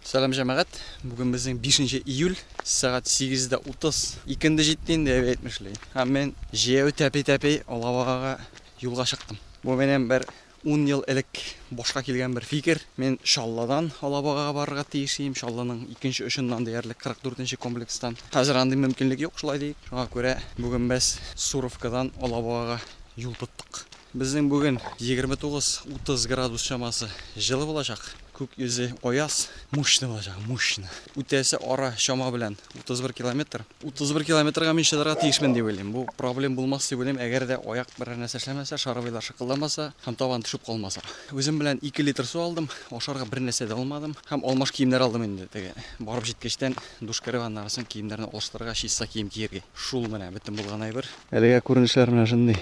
Сәлам җәмәгать! Бүген безнең бишенче июль, сәгать сигез дә утыз. Икенде җитте инде, әби әйтмешли. Һәм мин җәяү тәпи-тәпи алабугага юлга чыктым. Бу минем бер ун ел элек башка килгән бер фикер. Мин Чаллыдан алабугага барырга тиеш ием, Чаллының икенче очыннан диярлек кырык дүртенче комплекстан. Хәзер андый мөмкинлек юк, шулай диик. Шуңа күрә бүген без Суровкадан алабугага юл тоттык. Безнең бүген 29-30 градус чамасы җылы булачак. Күк йөзе аяз, мощный булачак, мощный. Үтәсе ара чама белән 31 километр. 31 километрга мин чыдарга тиешмен дип уйлыйм. Бу проблем булмас дип уйлыйм, әгәр дә аяк берәр нәрсә эшләмәсә, шаровыйлар шыкылдамаса һәм табан төшеп калмаса. Үзем белән 2 литр су алдым, ашарга бернәрсә дә алмадым һәм алмаш киемнәр алдым инде, теге барып җиткәчтән душ кереп, аннары соң киемнәрне алыштырырга, чиста кием киергә. Шул менә бөтен булган әйбер. Әлегә күренешләр менә шундый.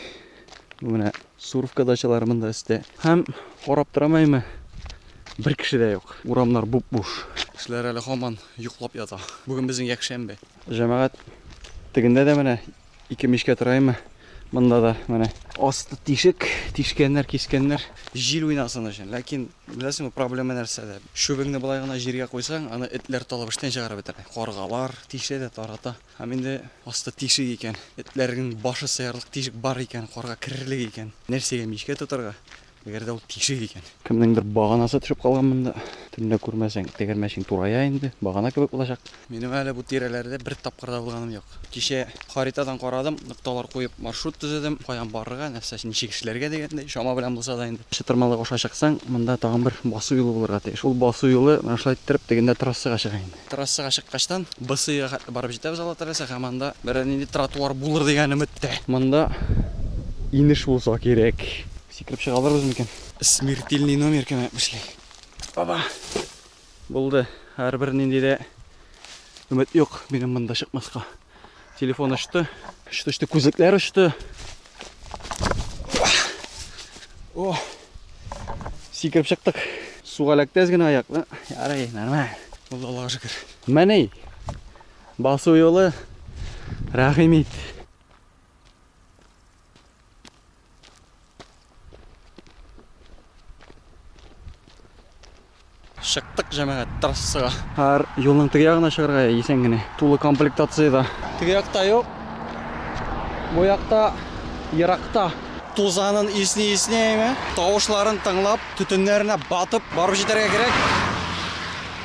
Менә Суровка дачалары монда өстә. Һәм карап торамаймы, бер кеше дә юк. Урамнар буп-буш. Кешеләр әле һаман йоклап ята. Бүген безнең якшәмбе. Җәмәгать тегендә дә менә ике мичкә тораймы? Монда да менә асты тишек, тишкәннәр, кискәннәр, җил уйнасын өчен. Ләкин беләсеңме, проблема нәрсәдә? Чүбеңне болай гына җиргә куйсаң, аны этләр талып эштән чыгарып бетерә. Каргалар тишә дә тарата. Һәм инде асты тишек икән, этләрнең башы сыярлык тишек бар икән, карга керерлек икән, нәрсәгә мичкә тотарга, әгәр дә ул тишек икән? Кемнеңдер баганасы төшеп калган монда. Төнлә күрмәсәң, тегермәчең турая инде, багана кебек булачак. Минем әле бу тирәләрдә бер тапкыр да булганым юк. Кичә харитадан карадым, нокталар куеп маршрут төзедем, каян барырга, нәрсә, ничек эшләргә дигәндәй, чама белән булса да инде. Чытырмалык аша чыксаң, монда тагын бер басу юлы булырга тиеш. Ул басу юлы менә шулай иттереп тегендә трассага чыга инде. Трассага чыккачтан БСИга хәтле барып җитәбез Алла теләсә һәм анда берәр нинди тротуар булыр дигән өметтә. Монда инеш булса кирәк. Сикереп чыга алырбыз микән? Смертельный номер кемә эшли. Оба! Булды. Һәрбер нинди дә өмет юк минем монда чыкмаска. Телефон очты. Очты, очты, күзлекләр очты. О! Сикереп чыктык. Суга ләктәз генә аяк. Ярый, нормаль. Булды Аллага шөкер. Менә басу юлы рәхим ит. Чыктык, җәмәгать, трассага. Һәр юлның теге ягына чыгарга исән генә. Тулы комплектацияда. Теге якта юк. Бу якта еракта. Тузанын исни исни әйме, тавышларын тыңлап, төтеннәренә батып, барып җитәргә кирәк.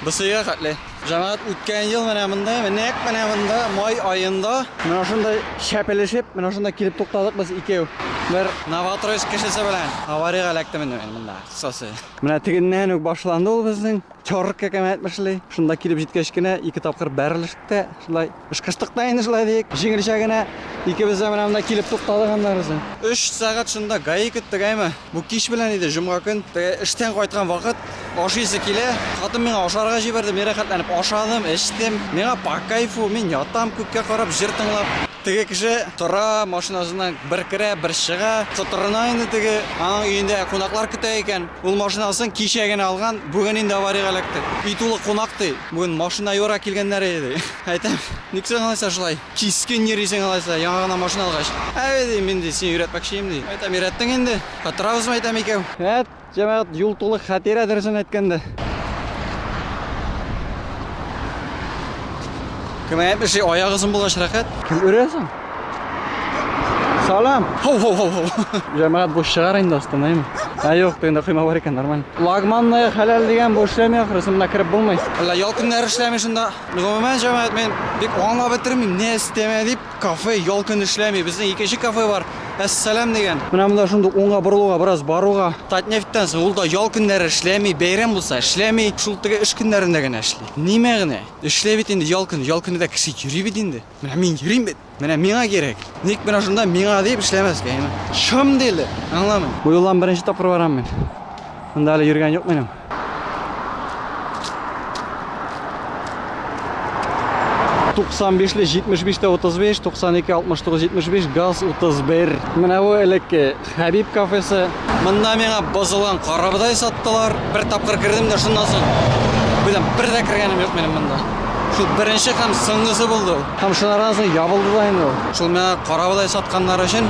Бесыйга хәтле. Җәмәгать, үткән ел менә монда, нәкъ менә монда, май аенда, менә шунда чәпелешеп, менә шунда килеп туктадык без икәү. Бер Новотроицк кешесе белән авариягә эләктем инде мин монда, кыскасы. Менә тегеннән үк башланды ул безнең чорыркка кем әйтмешли. Шунда килеп җиткәч кенә ике тапкыр бәрелештек тә, шулай. Ышкыштык та инде шулай диек. Җиңелчә генә икебез дә менә монда килеп туктадык аннары соң. Өч сәгать шунда гаи көттек, әйме. Бу кич белән иде, җомга көн. Теге эштән кайткан вакыт, ашыйсы килә. Хатын миңа ашарга җибәрде, мин рәхәтләнеп ашадым, эчтем. Миңа по кайфу, мин ятам күккә карап, җыр тыңлап. Теге кеше тора, машинасыннан бер керә, бер чыга. Котырына инде теге. Аның өендә кунаклар көтә икән. Ул машинасын кичә генә алган, бүген инде авариягә эләкте. Өй тулы кунак, ди. Бүген машина юарга килгәннәр иде, ди. Әйтәм, ник соң алайса шулай кискен йөрисең алайса, яңа гына машина алгач? Әй, ди, мин, ди, сине өйрәтмәкче идем, ди. Әйтәм, өйрәттең инде, катырабызмы, әйтәм, икәү. Вәт, җәмәгать, юл тулы хәтирә, дөресен әйткәндә. Кем әйтмешли, аяк озын булгач рәхәт. Кем өрә соң? Салам! Хоу-хоу-хоу-хоу! Жәмәгат бу шыгар инде астына, әйме? Ә юк, тегендә койма бар икән, нормально. Лагманная хәләл дигән бу эшләми ахрысы, монда кереп булмый. Әллә ял көннәре эшләми шунда? Гомумән, җәмәгать, мин бик аңлап бетермим, не өстәмә дип кафе ял көн эшләми. Безнең икенче кафе бар, Әссәлам дигән. Менә монда шундук уңга борылуга, бераз баруга. Татнефтьтән соң ул да ял көннәре эшләми, бәйрәм булса эшләми, шул теге эш көннәрендә генә эшли. Ни мәгънә? Эшләй бит инде ял көне, ял көне дә кеше йөри бит инде. Менә мин йөрим бит. Менә миңа кирәк. Ник менә шунда миңа дип эшләмәскә, яме. Шым диле. Аңламыйм. Бу юлдан беренче тапкыр барам мин. Монда әле йөргән юк минем. Туксан бишле, җитмеш биштә, утыз биш, туксан ике, алтмыш тугыз, җитмеш биш, газ, утыз бер. Менә бу элекке Хәбиб кафесы. Монда миңа бозылган карабодай саттылар. Бер тапкыр кердем дә шуннан соң, беләм, бер дә кергәнем юк минем монда. Шул беренче һәм соңгысы булды ул. Һәм шуннан соң ябылды да инде ул. Шул миңа карабодай сатканнар өчен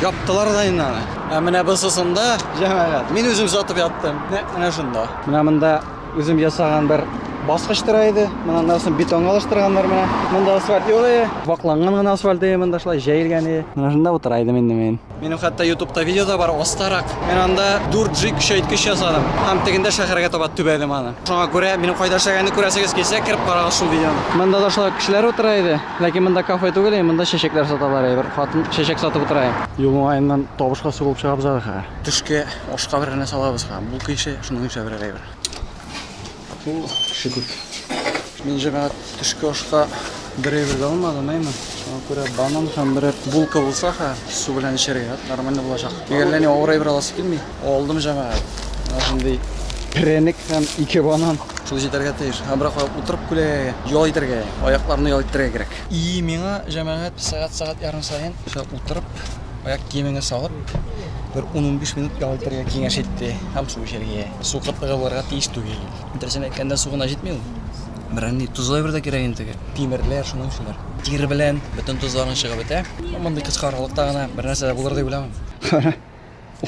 яптылар да инде аны. Ә менә бусысында, җәмәгать, мин үзем сатып яттым. Нәкъ менә шунда. Менә монда үзем ясаган бер баскыч тора иде. Менә аннан бетонга алыштырганнар менә. Монда асфальт юк иде. Вакланган гына асфальт иде монда шулай җәелгән иде. Менә шунда утыра идем инде мин. Минем хәтта ютубта видео да бар, астарак. Мин анда 4G көчәйткеч ясадым һәм тегендә шәһәргә таба төбәдем аны. Шуңа күрә минем кайда эшләгәнне күрәсегез килсә, кереп карагыз шул видеоны. Монда да шулай ук кешеләр утыра иде, ләкин монда кафе түгел и монда чәчәкләр саталар и бер хатын чәчәк сатып утыра и. Юл уңаеннан табышка сугылып чыгабыз әле хәзер. Төшке ашка берәр нәрсә алабыз хәзер. Булка ише, шуның ише берәр әйбер. Бу кеше күп. Мин җиңа төшке ашка бер әйбер дә алмадым, әйме? Шуңа күрә банан һәм берәр булка булса ха, су белән эчәргә нормально булачак. Тик әллә ни авыр әйбер аласы килми. Алдым җәмәгать. Менә шундый перәник һәм ике банан шул җитәргә тиеш. Һәм берак утырып күләгәгә ял итәргә, аякларны ял итәргә кирәк. И миңа җәмәгать сәгать-сәгать ярым саен шулай утырып, аяк киемеңне салып, бер 10-15 минут ял итәргә киңәш итте һәм су эчәргә. Су кытлыгы булырга тиеш түгел. Дөресен әйткәндә, су гына җитми ул. Берәнди тозлы әйбер дә кирәк инде теге. Тимерләр, шуның шулар. Тир белән бөтен тозларың чыгып бетә. Мондый кыска аралыкта гына бернәрсә дә булыр дип уйламыйм. Кара,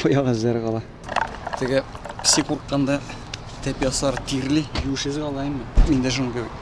аяк эзләре кала. Теге песи курыкканда тәп ясар тирле юеш эз кала инде. Мин дә шуның кебек.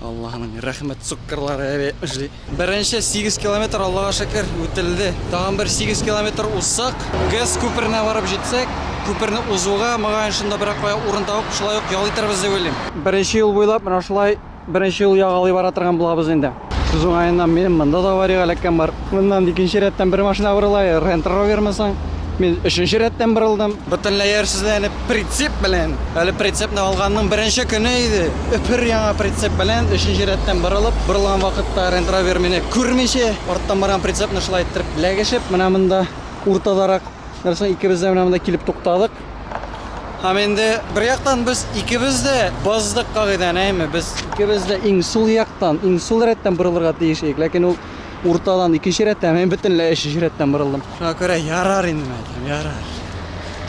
Аллаһның рәхмәт суккырлары әби эшли. Беренче 8 километр Аллага шөкер үтелде. Тагын бер 8 километр узсак, ГЭС күперенә барып җитсәк, күперне узуга, могаен шунда берәр кая урын табып, шулай ук ял итәрбез дип уйлыйм. Беренче юл буйлап менә шулай беренче юл ягалый бара торган булабыз инде. Сүз уңаеннан, минем монда да аварияга эләккән бар. Моннан икенче рәттән бер машина борыла, Рент Ровермы соң? Мин өченче рәттән борылдым. Бөтенләй иярсезләнеп, Прицеп белән, әле прицепны алганның беренче көне иде, өпер яңа прицеп белән өченче рәттән борылып, борылган вакытта Рент Ровер мине күрмичә, арттан барган прицепны шулай иттереп ләгешеп, менә монда уртадарак нәрсә икебез дә менә монда килеп туктадык. Һәм инде бер яктан без икебез дә боздык кагыйдәне, әйме, без икебез дә иң сул яктан, иң сул рәттән борылырга тиеш идек, ләкин ул уртадан икенче рәттән, мин бөтенләй өченче рәттән борылдым. Шуңа күрә ярар инде, мәйтәм, ярар.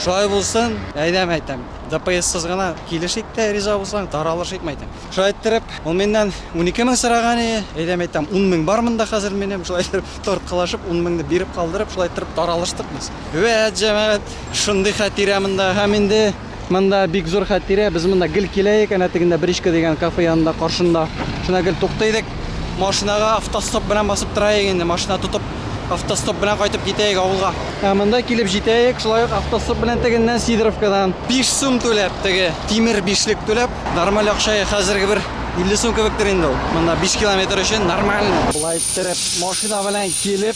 Шулай булсын, әйдә, мәйтәм, ДПСсыз гына килешик тә, риза булсаң, таралышыйк, мәйтәм. Шулай иттереп, ул миннән унике мең сораган иде, әйдә, мәйтәм, ун мең бар монда хәзер минем, шулай иттереп, тарткалашып, ун меңне биреп калдырып, шулай иттереп таралыштык без. Вәт, җәмәгать, шундый хәтирә монда, һәм инде. Монда бик зур хәтирә. Без монда гел киләек, әнә тегендә Бричка дигән кафе янында каршында. Шунда гел тукта идек. Машинага автостоп белән басып тора идек инде. Машина тотып, автостоп белән кайтып китә идек авылга. Ә монда килеп җитә идек, шулай ук автостоп белән тегеннән Сидоровкадан. 5 сум түләп, теге тимер бишлек түләп, нормаль акча, хәзерге бер 50 сум кебектер инде ул. Монда 5 километр өчен нормально. Болай иттереп машина белән килеп,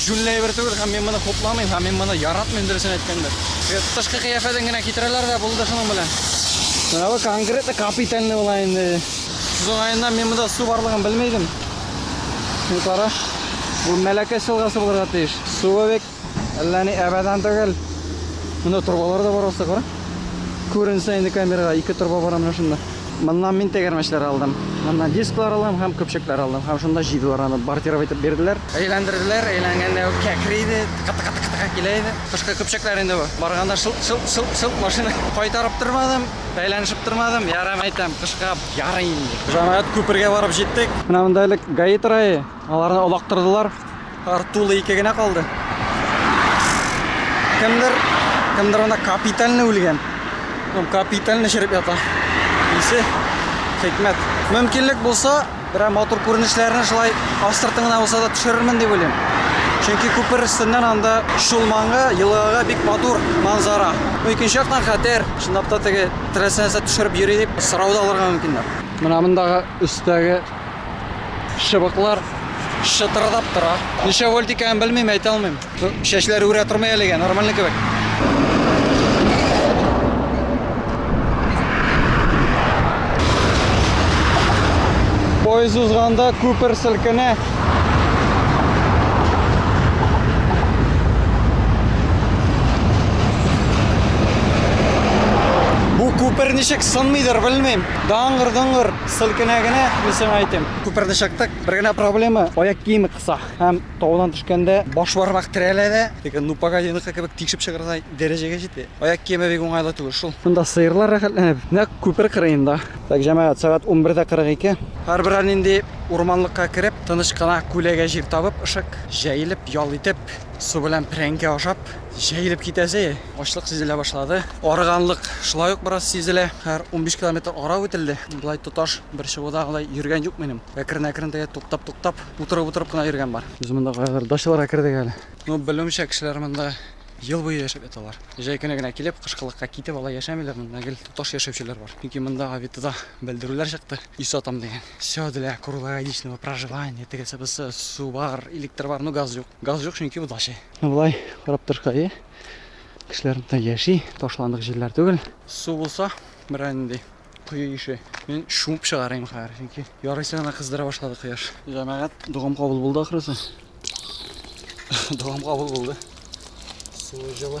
Җүнле әйбер түгел һәм мин моны хупламыйм һәм мин моны яратмыйм дөресен әйткәндә. Тышкы кыяфәтен генә китерәләр дә булды шуның белән. Менә бу конкретно капитальный була инде. Сез уңаеннан мин монда су барлыгын белми идем. Син кара. Бу Мәләкәс елгасы булырга тиеш. Суы бик әллә ни әбәдән түгел. Монда торбалар да бар аста, кара. Күренсә инде камерага ике торба бара менә шунда. Моннан мин тәгәрмәчләр алдым. Моннан дисклар алдым һәм көпчәкләр алдым. Һәм шунда җыйдылар аны, бортировать итеп бирделәр. Әйләндерделәр, әйләнгәндә үк кәкри иде, тыка-тыка-тыка-тыка килә иде. Кышкы көпчәкләр инде бу. Барганда шылт-шылт-шылт-шылт машина. Кайтарып тормадым, бәйләнешеп тормадым. Ярар, мәйтәм, кышка ярый инде. Җәмәгать күпергә барып җиттек. Менә монда элек ГАИ тора иде. Аларны олактырдылар. Артулы ике генә калды. Кемдер, кемдер анда капитальный үлгән. Ну, капитальный череп ята. Исе, хикмәт. Мөмкинлек булса, берәр матур күренешләрне шулай астыртын гына булса да төшерермен дип уйлыйм. Чөнки күпер өстеннән анда Шулманга, елгага бик матур манзара. Ну, икенче яктан хәтәр, чынлап та теге теләсә нәрсә төшереп йөри дип сорау да алырга мөмкиннәр. Менә мондагы өстәге Чыбыклар шытырдап тора. Ничә вольт икәнен белмим, әйтә алмыйм. Чәчләр үрә тормый әлегә, нормальный кебек. Поезд узганда күпер селкенә. Бу күпер ничек сынмыйдыр, белмим. Даңгыр-дыңгыр. Сыл кенә генә, мин сиңа әйтим. Күперне чыктык, бер генә проблема, аяк киеме кыса. Һәм таудан төшкәндә баш бармак терәлә дә, теге ну погодиныкы кебек тишеп чыгардай дәрәҗәгә җитә. Аяк киеме бик уңайлы түгел шул. Монда сыерлар рәхәтләнеп, нәкъ күпер кырыенда. Так, җәмәгать, сәгать 11:42. Һәрберәр нинди урманлыкка кереп, тыныч кына күләгә җир табып, ышык җәелеп, ял итеп, су белән прәнкә ашап, җәелеп китәсе. Ачлык сизелә башлады. Арыганлык шулай ук бераз сизелә. Хәзер 15 километр ара үтелде. Болай тоташ бер чыгуда алай йөргән юк минем. Әкрен-әкрен дә туктап-туктап, утырып-утырып кына йөргән бар. Без монда кайгыр дачаларга кердек әле. Ну, белүемчә, кешеләр монда ел буе яшәп яталар. Җәй көне генә килеп, кышкылыкка китеп алай яшәмиләр. Монда гел тоташ яшәүчеләр бар. Чөнки монда Авитода белдерүләр чыкты. Өй сатам дигән. Всё для круглогодичного проживания, тегесе-бусы, су бар, электр бар, ну газ юк. Газ юк, чөнки бу дача. Ну, болай карап торышка, әйе. Кешеләр монда яши, ташландык җирләр түгел. Су булса, берәр нинди кое ише. Мин шуып чыгарыйм хәзер, чөнки ярыйсы гына кыздыра башлады кояш. Җәмәгать, догам кабул булды ахрысы. догам кабул булды. Суы җылы.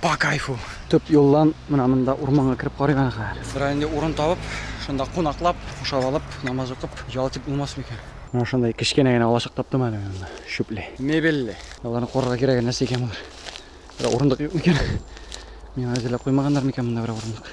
По кайфу. Төп юлдан менә монда урманга кереп карыйк аны хәзер. Берәр инде урын табып, шунда кунаклап, кушап алып, намаз укып, ял итеп булмас микән? Менә шундай кечкенә генә алачык таптым әле мин монда. Чүпле. Мебельле. Аларны куарга кирәге нәрсә икән болар? Бер урындык юк микән? Миңа әзерләп куймаганнар микән монда бер урындык?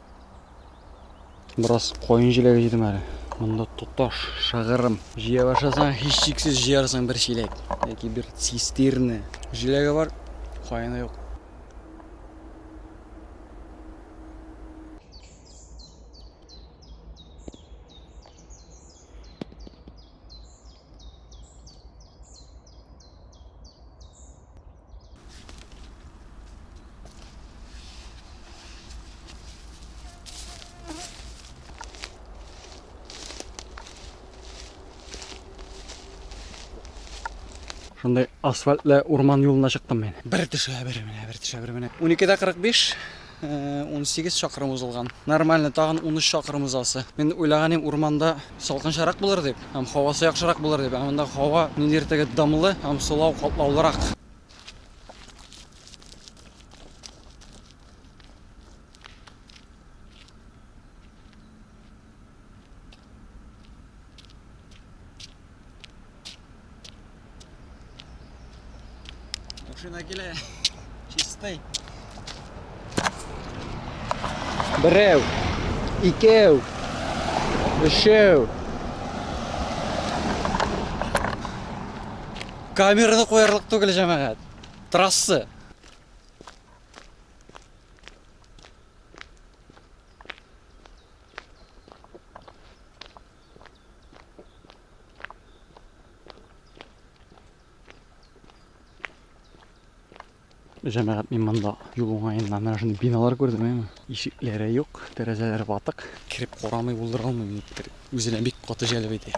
Бераз коен җиләге җыйдым әле. Монда тоташ, шыгырым. Җыя башласаң, һичшиксез җыярсың бер чиләк яки бер цистерна. Җиләге бар, коены юк. Шундай асфальтлы урман юлына чыктым мен. Бер төшә, бер менә, бер төшә, бер менә. 12-дә 45, Унсигез чакрым узылган. Нормально, тагын унөч чакрым узасы. Мин уйлаган идем, урманда салкынчарак булыр дип һәм һавасы яхшырак булыр дип, ә монда һава ниндидер теге дымлы һәм сулау катлаулырак. Машина килә. Чистый. Берәү, икәү, өчәү. Камераны куярлык түгел җәмәгать. Трасса. Җәмәгать мин монда юл уңаеннан менә шундый биналар күрдем, әйме? Ишекләре юк, тәрәзәләре ватык. Кереп карамый булдыра алмыйм никтер. Үзенә бик каты җәлеп итә.